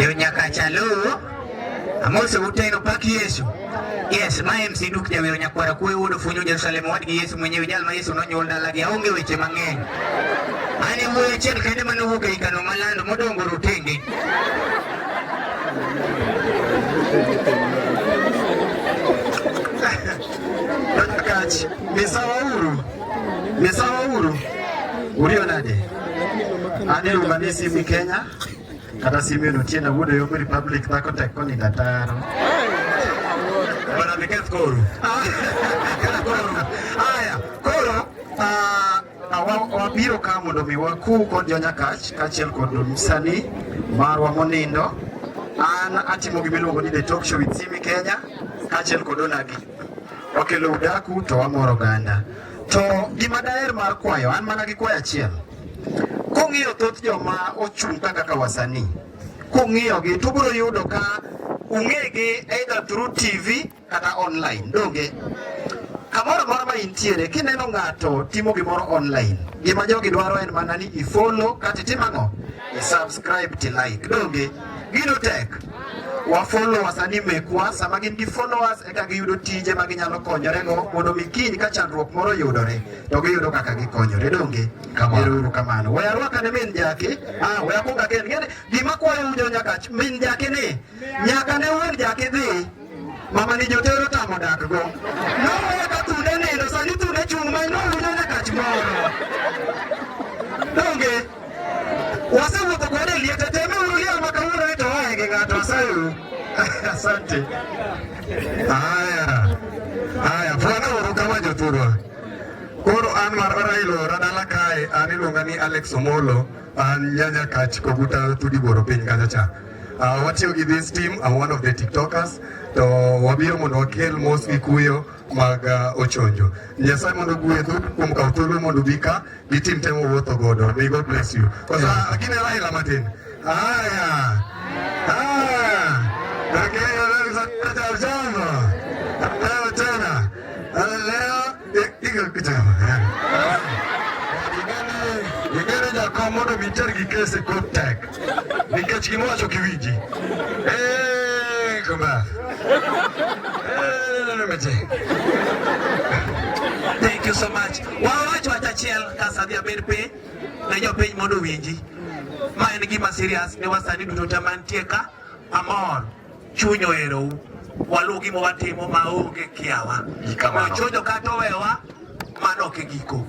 Yo nyaka chalo. Amose uteno pak Yesu. Yes, ma MC Duke Jawero Nyakwara kuwe wuod Ofunyo Jerusalem wadgi Yesu mwenyewe jal ma Yesu nonyuol dalagi aonge weche mang'eny. Ani wuoyo achiel kende mane owuok ei kano malando modongo rotenge. Kach, misawa uru. Misawa uru. Uriyo nade? Ane lugani simi Kenya kata simi no tienda wudo yo Republic dhako tek koni dataro. Bana niketh koru. Kana koru. Aya, koru. Ah, wabiro ka mondo mi waku kod jonyakach kaachiel kod msanii marwa monindo an atimo gima iluongo ni the talk show with Simi Kenya kaachiel kod Onagi wakelo udaku to wamoro ganda To gima daher mar kwayo, an mana gi kwayo achiel. Kung'iyo thoth joma ochung' ka kaka wasanii, kung'iyogi to ubiro yudo ka ung'egi either through TV kata online, donge? Kamoro amora ma intiere, kineno ng'ato timo gimoro online, gima jogi dwaro en mana ni i-follow, kata itim ang'o? I-subscribe to like, donge? Gino tek. wa follow wasani mekwa sama gin gi followers eka giyudo tije ma ginyalo konyorego mondo mi kiny ka chandruok moro yudore to giyudo kaka gikonyore donge erouru kamano we arwaka ne min jake ah, we akwonga ken gima kwayo ujo nyaka min jake ni nyaka ne wuon jake dhi Mama ni jotero tamo dak go. Noweyo ka thunde nindo, sani thunde chung' ma nowinjo nyaka chmoro. Donge, wasewuotho kode e liete, teme uru liel ma kawuono ni to oae gi ng'ato, asayuru. Asante. Haya, haya, fwana uru kama jothurwa. Koro an mar Orailo ora dala kae, an iluonga ni Alex Omolo, an nyanya kach koguta thudi boro piny kanyacha. Uh, watiyo gi this team are one of the tiktokers to wabiro mondo wakel mos gi kuyo mag uh, ochonjo nyasaye mondo gwedhu kuom kawo thuolo mondo ubi ka gi tim temo wuotho godo may god bless you kosa uh, gine raila matin haya haya lakini Igere jakom mondo mi iter gi kese kod tek nikech gimowacho kiwinji. Eh, kumba. Thank you so much. Wawacho achiel kasadhi abed piny ne jopiny mondo winji. Ma en gima serious ne wasani duto te mantie ka amor. Chuny oherou. Waluw gima watimo maonge kiawa. Ochodo kata owewa, mano ok e giko.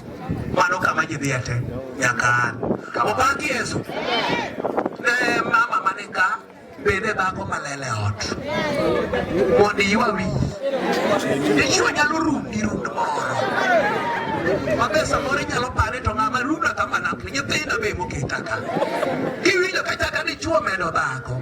Mano kama ji dhiye te nyaka an. Obak Yesu. Ne mama mane ka bende dhako malele ot. Mondo iywa wiyi. Dichwo nyalo rundi rund moro. Mabe samoro inyalo pare to ng'ama runda kama napni nyithinda be moketa ka. Kiwinjo kachaka dichwo medo dhako.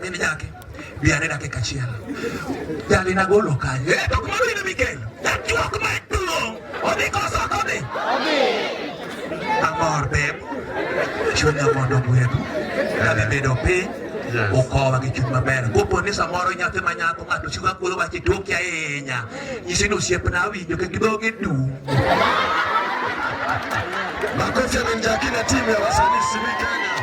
Nini yake? Bi anena kika chiela. Dali na golo kanye. Eh, tok maru ina Mikel. That joke my duo. Odi kosa kodi. Odi. Amor beb. Chunya mondo mwebu. Dali bedo piny. ukowa gi chuny maber kopo ni samoro nyathi ma nyako ng'ato chiwa kuoyo wache toki ahinya nyisi ni osiepna awinjo kendo dhoge dum makofi amenjakina timu ya wasanii simi kenya